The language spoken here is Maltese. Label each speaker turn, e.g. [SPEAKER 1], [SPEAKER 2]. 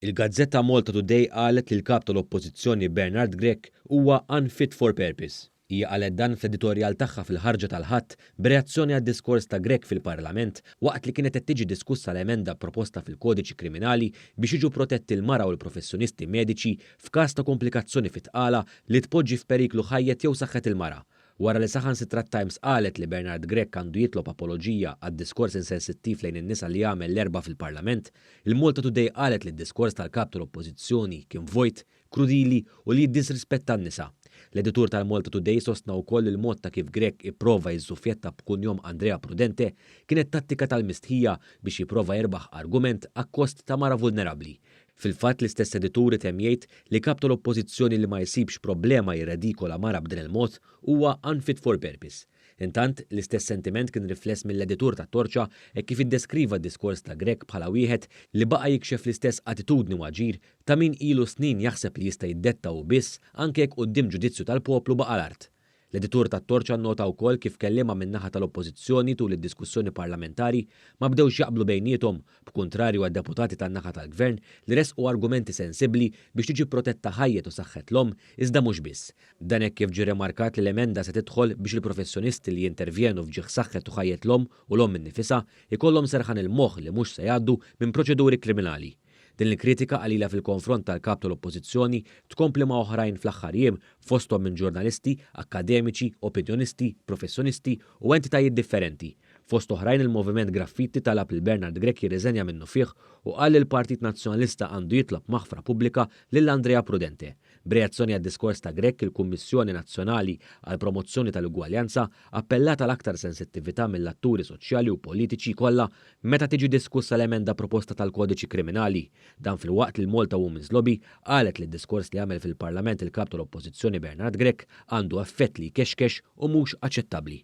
[SPEAKER 1] Il-gazzetta Malta Today qalet li l-Kap tal-Oppożizzjoni Bernard Grech huwa unfit for purpose. Hija qalet dan fl-editorjal tagħha fil-ħarġa tal-Ħadd b'reazzjoni għad-diskors ta' Grech fil-Parlament waqt li kienet qed tiġi diskussa l-emenda proposta fil-Kodiċi Kriminali biex jiġu protetti l-mara u l-professjonisti mediċi f'każ ta' komplikazzjoni fit-tqala li tpoġġi f'periklu ħajjet jew saħħet il-mara Wara li saħansitra t-Times qalet li Bernard Grech għandu jitlob apoloġija għad-diskors insensittiv lejn in-nisa li għamel l-Erbgħa fil-Parlament, il-Malta Today qalet li d-diskors tal-Kap tal-Oppożizzjoni kien vojt, krudili u li jiddisrispetta n-nisa. L-editur tal-Malta Today sostna wkoll li l-mod ta' kif Grech ipprova jiżżuffjetta b'kunjom Andrea Prudente kienet tattika tal-mistħija biex jipprova jirbaħ argument akkost ta' mara vulnerabbli. Fil-fatt l-istess editur itemm jgħid li Kap tal-Oppożizzjoni li ma jsibx problema jirredikola mara b'dan il-mod huwa unfit for purpose. Intant, l-istess sentiment kien rifless mill-editur ta' Torċa hekk kif iddeskriva d-diskors ta' Grech bħala wieħed li baqa' jikxef l-istess attitudni u aġir ta' min ilu snin jaħseb li jista' jiddetta hu biss anke jekk quddiem ġudizzju tal-poplu baqa' l-art L-editur tat-Torċa nnota wkoll kif kelliema min-naħa tal-Oppożizzjoni tul id-diskussjoni parlamentari ma bdewx jaqblu bejniethom, b'kuntrarju għad-deputati tan-naħa tal-Gvern li ressqu argumenti sensibbli biex tiġi protetta ħajjet u saħħet l-omm, iżda mhux biss. Dan hekk kif ġie rrimarkat li l-emenda se tidħol biex il-professjonisti li jintervjenu f'ġieħ saħħet u ħajjet l-omm u l-omm innifisha jkollhom serħan il-moħħ li mhux se jgħaddu minn proċeduri kriminali. Din il-kritika qalila fil-konfront tal-Kap tal-Oppożizzjoni tkompli ma' oħrajn fl-aħħar jiem, fosthom minn ġurnalisti, akkademiċi, opinjonisti, professjonisti u entitajiet differenti. Fost oħrajn il-Moviment Graffitti talab lil Bernard Grech jirriżenja minnufih u qal li l-Partit Nazzjonalista għandu jitlob maħfra pubblika lil Andrea Prudente B'reazzjoni għad-diskors ta' Grech il-Kummissjoni Nazzjonali għall-Promozzjoni tal-Ugwaljanza appellat għal aktar sensittività mill-atturi soċjali u politiċi kollha meta tiġi diskussa l-emenda proposta tal-Kodiċi Kriminali. Dan filwaqt li l-Malta Women's Lobby qalet li d-diskors li għamel fil-Parlament il-Kap tal-Oppożizzjoni Bernard Grech għandu effett li jkexkex u mhux aċċettabbli.